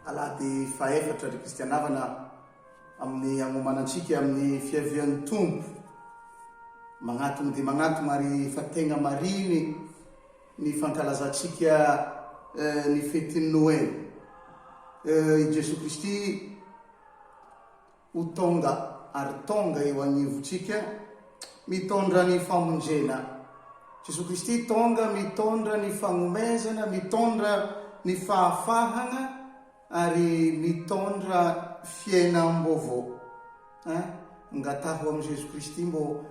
alahady fahefatra ry kristianavana amin'ny agnomanantsika amin'ny fiavian'ny tompo magnatogno dia magnatogno ary fa tegna mariny Ny fankalazantsika ny fetin'ny Noely. I Jesoa Kristy ho tonga ary tonga eo anivontsika mitondra ny famonjena. Jesoa Kristy tonga mitondra ny fagnomezana, mitondra ny fahafahana. Ary mitondra fiainam-baovao eh. Angataho amin'i Jesoa Kristy mbô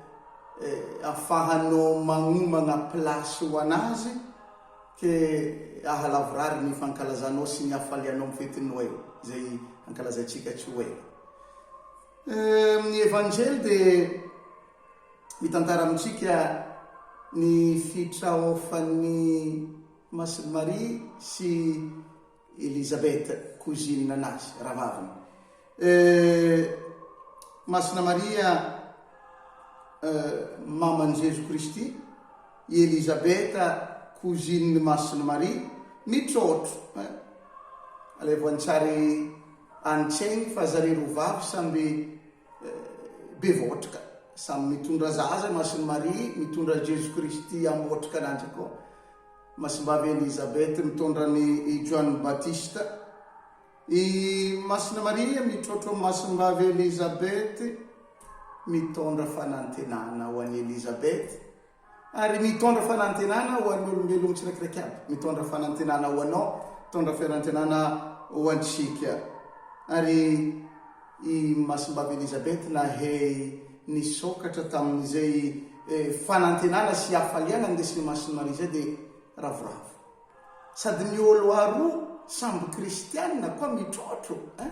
eh, afahanao magnomagna place ho an'Azy ke ahalavorary ny fankalazanao sy ny hafalianao amin'ny fetin'i Noely, izay ankalazaintsika tsy ho ela. Eh, amin'ny Evanjely dia mitantara amintsika ny fitraofan'ny Masin'i Maria sy Elisabeth cousine anazy, rahavaviny. Euh. Masina Maria euh, maman'i Jeso Kristy, i Elisabeth cousinen'i Masina Maria, mitrôtro eh. Alaivo an-tsary any Cheng fa zareo roa vavy samby. bevohotrika samy mitondra zaza Masin'i Maria mitondra Jeso Kristy ambohotrika an'Andry koa Masimbavy Elizabeth mitondra an'i Joany Batista i Masina Maria mitroatro an'i Masimbavy Elizabeth mitondra fanantenana ho an'i Elizabeth Ary mitondra fanantenana ho an'ny olombelogno tsiraikiraiky aby. Mitondra fanantenana ho anao, mitondra fiarantenana ho antsika. Ary i Masimbavy Elisabeth nahay nisokatra tamin'izay fanantenana sy hafaliana nindesin'i Masin'i Maria izay dia ravoravo. Sady ny olo aroa samby kristianina koa mitrotro eh!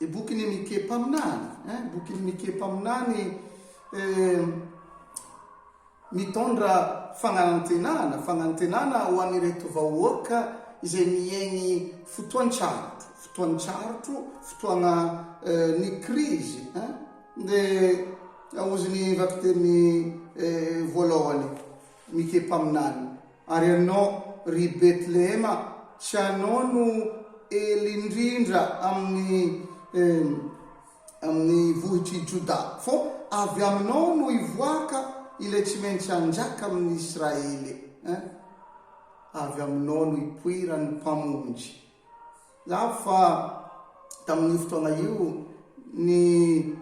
ny bokin'i Mike mpaminany, eh, bokin'i Mike mpaminany eh, mitondra fagnanantenana, fagnanantenana ho an'ireto vahoaka izay miaigny fotoan-tsarotro, fotoan-tsarotro, fotoagna eh, ny krizy, eh, dia aozin'ny vakiteny eh, voalohany. Mike mpaminany. Ary anao ry Betlehema, tsy anao no ela indrindra amin'ny amin'ny vohitr'i Jodà, fô avy aminao no hivoaka ilay tsy maintsy hanjaka amin'ny Israely. Ein! Avy aminao no hipoiran'ny Mpamonjy. Lavo fa tamin'io fotoana io ny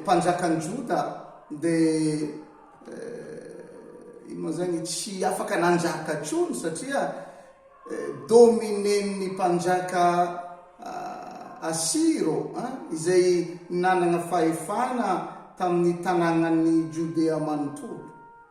mpanjakan'i Joda dia ino moa izany, tsy afaka nanjaka intsony satria dominen'ny mpanjaka Asiro izay nanana fahefana tamin'ny tanànan'i Jodea manontolo.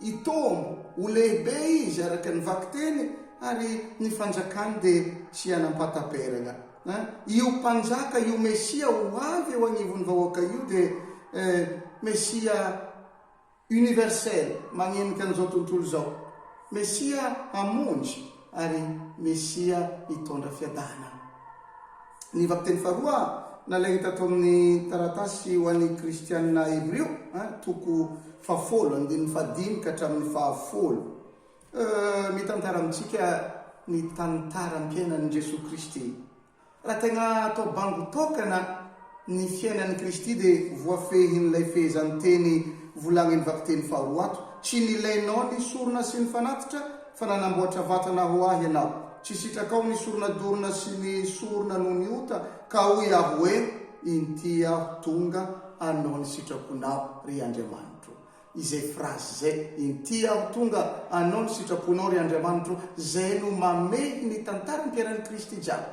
I Tom, ho lehibe izy araka ny vakiteny, ary ny fanjakany dia tsy hanam-pahataperana. Io Mpanjaka, io Mesia ho avy eo anivon'ny vahoaka io dia Mesia universel, magnenika an'izao tontolo izao. Mesia hamonjy. ary Mesia hitondra fiadanana. Ny vakiteny faharoa nalaina tato amin'ny taratasy ho an'ny Kristianina Hebrio, toko fahafolo, andininy fahadimy ka hatramin'ny fahafolo, mitantara amintsika ny tantaram-piainan'i Jesoa Kristy Raha tena atao bango tokana ny fiainan'i Kristy dia voafehin'ilay fehezanteny volagniny vakiteny faharoa ato, Tsy nilainao ny sorona sy ny fanatitra, fa nanamboatra vatana ho Ahy Ianao. Tsy sitrakao ny sorona dorina sy ny sorona noho ny ota, ka hoy Aho hoe, Inty Aho tonga hanao ny sitraponao, ry Andriamanitro. izay phrase izay, inty aho tonga anao ny sitraponao ry Andriamanitro izay no mamehy ny tantaran'i Piera-n'i Kristy jiaby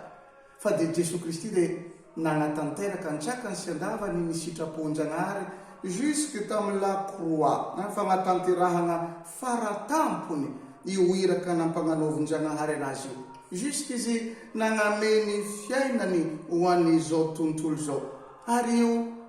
fa dia Jesoa Kristy ilay nanatanteraka an-tsakany sy an-davany ny sitrapon'Jagnahary jusque tamin'ny la croix ny fagnatanterahagna fara tampony io iraka nampagnanaovin'Jagnahary anazy io jusque izy nagname ny fiainany ho an'izao tontolo izao ary io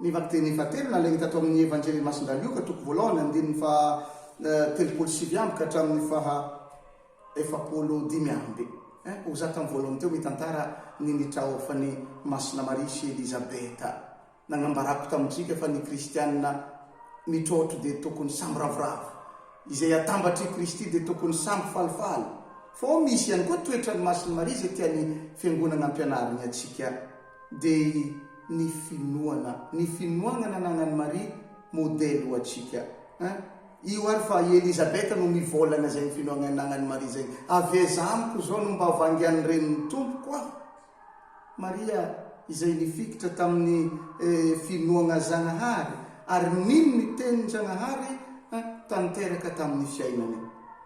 Ny vakiteny fahatelo nalainy tato amin' ny Evanjely Masin' dry Lioka, toko voalohany, andininy faha telopolo sy sivy amby ka hatramin' ny faha efapolo dimy amby. Ho za tamin'ny voalohany teo mitantara ny nitraofan' i Masina Maria sy Elizabeta. Nanambarako tamintsika fa ny Kristiana mitrotro dia tokony samy ravoravo. Izay atambatr' i Kristy dia tokony samy falifaly. Fô misy ihany koa toetran'i Masin'i Maria izay tian'ny Fiangonana ampianariny antsika dia ny finoana, ny finoagna nananan'i Maria modely ho antsika hein. Io ary fa i Elisabeth no mivôlagna zegny finoagna ananan'i Maria zegny, avy aiza amiko zao no mba vangian'ny renin'ny Tompoko aho? Maria izay nifikitra tamin'ny finoagna Zagnahary ary nino ny tenin-Jagnahary hein tanteraka tamin'ny fiainany.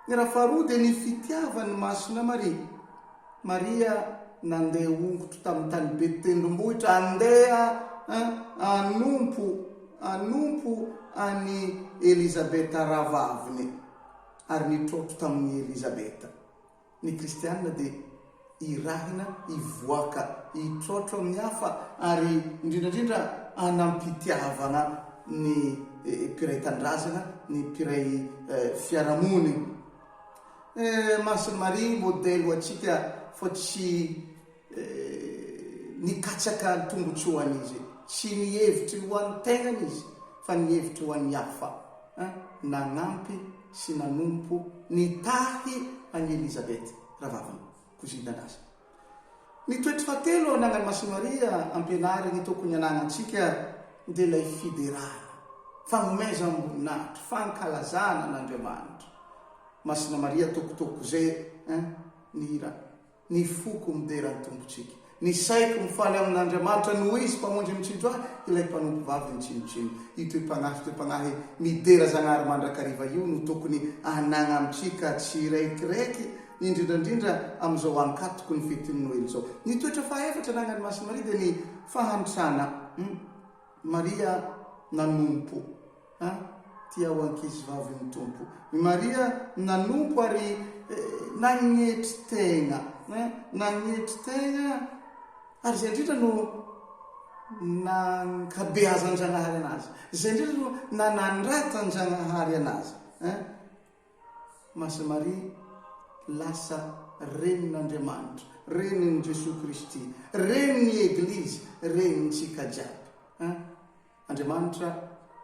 Ny raha faharoa dia ny fitiavan'i Masina Maria. Maria nandeha hongotro tamin'ny tany be tendrombohitra handeha hanompo hanompo an'i Elizabeta rahavaviny, ary nitrotro tamin'i Elizabeta. Ny Kristiana dia irahina hivoaka, hitrotro amin'ny hafa, ary indrindra indrindra hanam-pitiavana ny mpiray tanindrazana, ny mpiray fiarahamonina. Eh Mason'i Maria modely ho antsika fa tsy nikatsaka ny tombotsoany izy, tsy ny hevitry ny ho an'ny tegnany izy fa ny hevitry ho an'ny hafa. Eh nagnampy sy nanompo nitahy an'i Elizabeth, rahavaviny, kozin-danazany. Ny toetra fahatelo ananan'i Masy Maria ampianariny tokony ananantsika dia ilay fiderana, fagnomezam-boninahitra, fankalazana an'Andriamanitra. Masina Maria tokotoko ze eh, ny hira, Ny foko midera ny Tompontsika, ny saiko mifaly amin'Andriamanitra noho Izy Mpamonjy mitsinjo ahy, ilay mpanompo vavy mitsinontsino. Io toe-pagnahy toe-pagnahy midera Zagnahary mandrakariva io no tokony ananantsika tsireikiraiky indrindra indrindra amin'izao ankatoky ny fetin'ny Noely izao. Ny toetra fahaefatra ananan'i Masin'i Maria dia ny fahantrana. Hum. Maria nanompo. Ha? Tia ho ankizivavin'ny Tompo. I Maria nanompo ary eh, nagnetry tegna. Ha? Nagnetry tegna ary izay indrindra no nankabeazan-Dragnahary anazy. Izay indrindra no nanandratan-Dragnahary anazy. Ha? Masina Maria lasa renin'Andriamanitra, renin'i Jesoa Kristy, renin'ny Eglizy, renintsika jiaby. An! Andriamanitra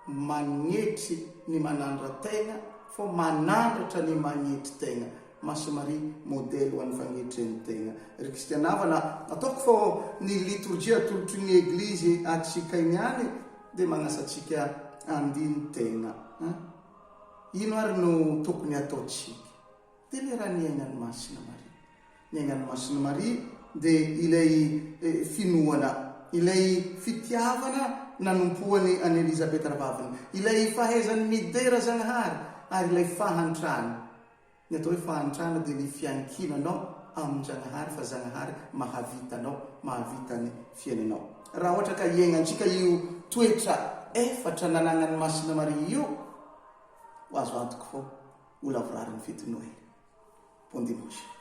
magnetry ny manandra tegna fô manandratra ny magnetry tegna. Masina Maria modely ho an'ny fagnetren'ny tegna. Ry Kristiana havana, ataoko fô ny litorjia atolotry ny Eglizy antsika iniany dia magnasa antsika handini-tegna. An! Ino ary no tokony hataontsika? Delera ny ainan'i Masina Maria. Ny ainan'i Masina Maria dia ilay finoana, ilay fitiavana nanompoany an'i Elizabeta Ravaviny, ilay fahaizany midera Zagnahary ary ilay fahantrany. Ny atao hoe fahantrana dia ny fiankinanao amin-dRanahary fa Zanahary mahavita anao, mahavita ny fiainanao. Raha ohatra ka hiaignantsika io toetra efatra nanagnan'i Masina Maria io, ho azo antoka fa ho lavorarin'ny fety Noely. Bon dimanche.